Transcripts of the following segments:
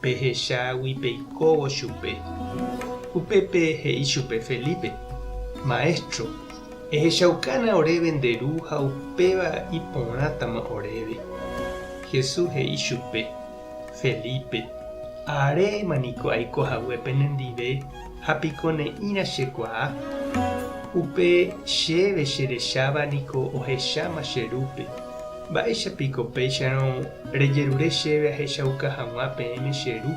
Pehechágui peikóvo chupe. Upépe he'i chupe Felipe, Maestro, ehechaukána oréve nde ru ha upéva iporãtama oréve. Jesús he'i chupe, Felipe, aréma niko aiko hague penendive ha piko ne'ĩra chekuaa? Upe chéve cherecháva niko ohecháma che rúpe. Mba'éicha piko péicharõ rejerure chéve ahechauka hag̃ua peẽme che ru?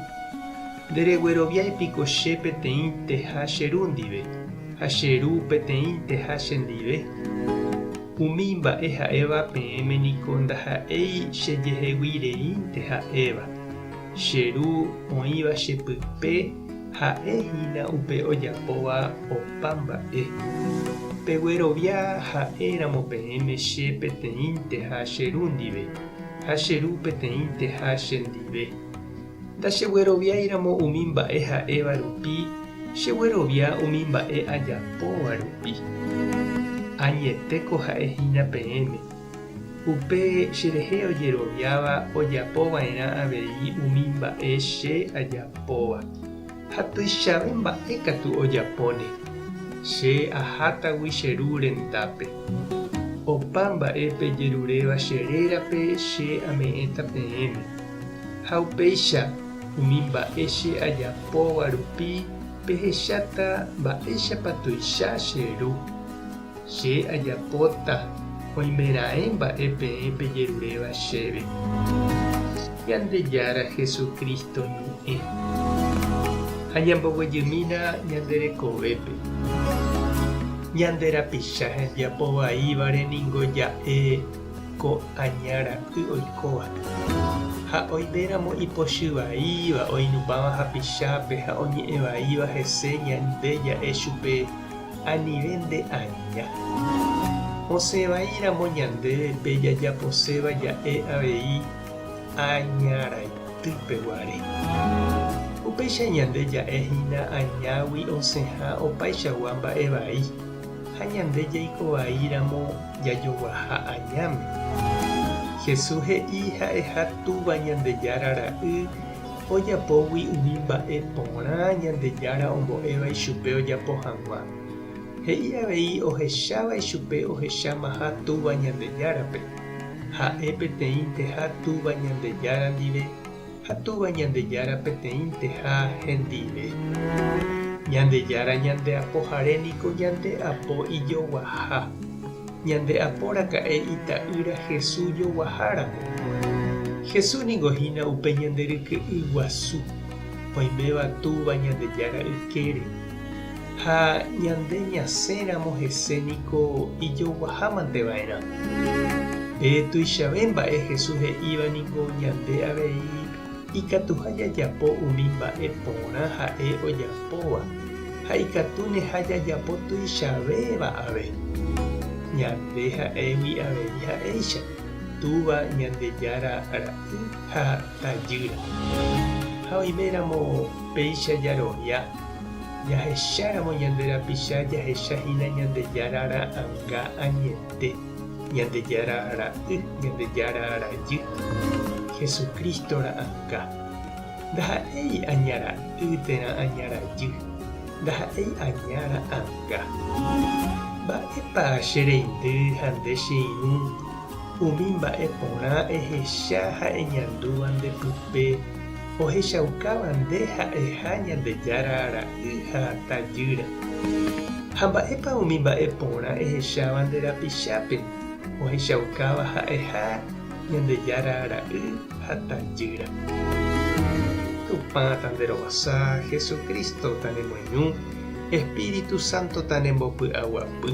Nderegueroviái piko che peteĩnteha che ru ndive, ha che ru peteĩnteha chendive? Umi mba'e ha'éva peẽme niko ndaha'éi chejeheguireínte ha'éva. Che ru oĩva che pype ha'e hína upe ojapóva opa mba'e. Peguerovia ha'e ramo peẽme che peteĩnteha che ru ndive, ha che ru peteĩnteha che ndive. Ndachegueroviái ramo umi mba'e ha'éva rupi, cheguerovia umi mba'e ajapóva rupi. Añetéko ha'e hína peẽme. Upe cherehe ojeroviáva ojapo va'erã avei umi mba'e che ajapóva. Ha tuichave mba'e katu ojapóne. Che ahátagui che ru rendápe. Opa mba'e pejeruréva che rérape che ame'ẽta peẽme. Ha upéicha, umi mba'e che ajapóva rupi pehecháta mba'éichapa tuicha che ru. Che ajapóta oimeraẽ mba'e peẽ pejeruréva chéve. Ñandejára Jesucristo ñe'ẽ. Ha ñamboguejymína ñande rekovépe. Ñande rapicha hembiapo vaívare ningo ja'e ko aña ra'y oikóva. Ha oiméramo ipochy vaíva oinupãva hapichápe ha oñe'ẽ vaíva hese ñande ja'e chupe, anive nde aña. Osẽ vai ramo ñande pe jajaposéva ja'e avei aña raitýpe guare. Upéicha ñande ja'e hína añágui osẽha opaichagua mba'e vai ha ñande jaiko vai ramo jajoguaha añáme. Jesús he'i ha'eha Túva Ñandejára Ra'y ojapógui umi mba'e porã Ñandejára ombo'éva ichupe ojapo hag̃ua. He'i avei ohecháva ichupe ohechamaha Túva Ñandejárape, ha'e peteĩnteha Túva Ñandejára ndive ha Túva Ñandejára peteĩnteha hendive. Ñandejára ñandeapohare niko ñandeapo ijoguaha. ñande aporaka'e Ita'ýra Hesu joguaháramo. Hesu ningo hína upe ñande ryke'y guasu, oiméva Túva Ñandejára ykére. Ha ñande ñasẽramo hese niko ijoguahámante va'erã. Pe tuichave mba'e Hesu he'íva ningo ñande avei Ikatuha jajapo umi mba'e porã ha'e ojapóva ha ikatúneha jajapo tuichavéva ave. Ñande ha'égui avei ha'éicha Túva Ñandejára Ra'y ha Tajýra. Ha oiméramo péicha jarovia, jahecháramo ñande rapicha jahecha hína Ñandejára Ra'anga añete. Ñandejára Ra'y, Ñandejára Rajy, Jesucristo ra'anga. Ndaha'éi aña ra'y térã aña rajy, ndaha'éi aña ra'anga. Mba'épa che reindy ha nde che irũ umi mba'e porã ehecha ha eñandúva nde pype, Ohechaukáva nde ha'eha Ñandejára ra'y ha tajýra. Ha mba'épa umi mba'e porã ehecháva nde rapichápe ohechaukáva ha'eha Ñandejára ra'y ha tajýra. Tupã tanderovasa, Jesucristo tanemoñu, Espíritu Santo tanembopy'aguapy.